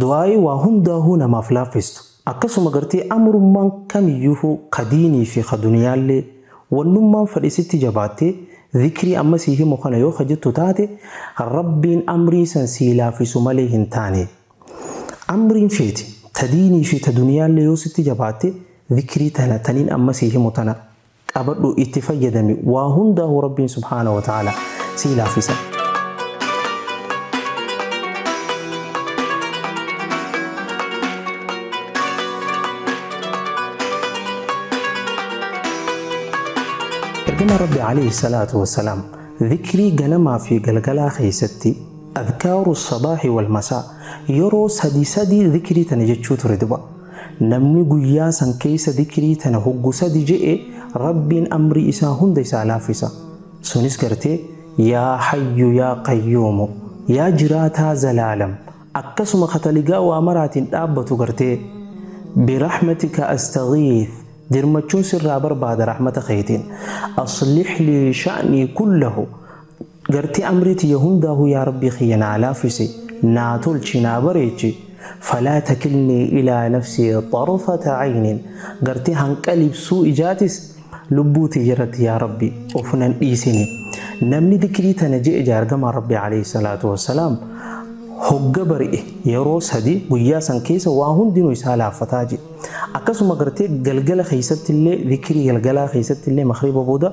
Du'aa'ii waa hundaahuu namaaf laaffistu. Akkasuma gartee amrummaan kamiyyuuhuu ka diinii fi ka duniyaallee, wannummaan fadhe sitti jabaattee, zikrii amma sii himu kana yoo ka jettu taate, Rabbiin amrii san sii laaffisu malee hin taane. Amriin feete, ta diinii fi ta duniyaallee yoo sitti jabaatte, zikrii tana, taniin amma sii himu tana, qabadhu itti fayyadami waa hundaahu rabbiin subhaana wa ta'ala sii laaffisa. Ergama Rabbi alayhi salaatu wassalaam dhikrii ganamaa fi galgalaa keessatti adkaaru sabaahi wal masaa yeroo sadii sadii dhikrii tana jechuu ture duba. Namni guyyaa san keeysa dikrii tana hoggu sadi je'e Rabbiin amrii isaa hunda isaa laaffisa. Sunis gartee, Yaa Hayyu Yaa Qayyuumu, Yaa Jiraataa Zalaalam, akkasuma ka taligaa waa maraatiin dhaabbatu gartee, Birahmatika Astaghiith, dirmachuun sirraa barbaada rahmata keetiin, Aslih lii sha'nii kullahu, Gartee amrii tiyya hundaahuu yaa Rabbii kiyya naa laaffisi, naa tolchi, naa bareechi, falaa takilnii ilaa nafsii xarfata caynin, gartee hanqa libsuu ijaatis lubbuu tiyya irratti yaa Rabbi of nan dhiisini. Namni dikrii tana je'e je'a Ergamaan Rabbii aleyhi salaatu wa salaam hogga bari'e yeroo sadi guyyaa san keessa waa hundinuu isaa laaffataa je'e. Akkasuma gartee galgala keessatti illee dikrii galgalaa keessatti illee maghriba booda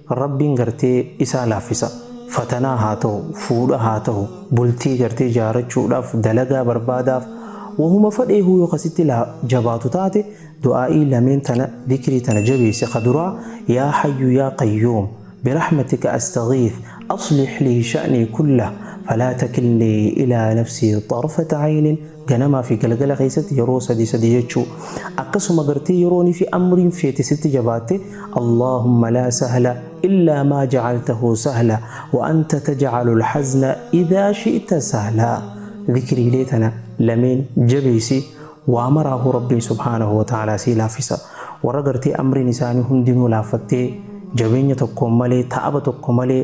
Rabbiin gartee isaa laaffisa. Fatanaa haa tahu, fuudha haa tahu, bultii gartee jaarachuudhaaf, dalagaa barbaadaaf, wahuma fadheehuu yoo ka sitti laa jabaatu taate, du'aa'ii lameen tana, dhikrii tana jabeessi, ka duraa, Yaa Hayyu Yaa Qayyuum, Birahmatika Astaghiith, Aslih lii sha'nii kullah, falaa takilnii ilaa nafsii xarfata aynin, Ganamaa fi galgala keessatti yeroo sadii sadii jechuu. Akkasuma gartee yeroon fi amriin feete sitti jabaatte Allaahumma laa sahla illaa maa jacaltahu sahla wa anta tajcalu lhazna idhaa shi'ta sahla. Zikriilee tana lameen jabeessi waa maraahu Rabbiin subhaanahu wa ta'aalaa sii laaffisa. Warra gartee amriin isaanii hundinuu laaffattee jabeenya tokkoon malee ta'aba tokko malee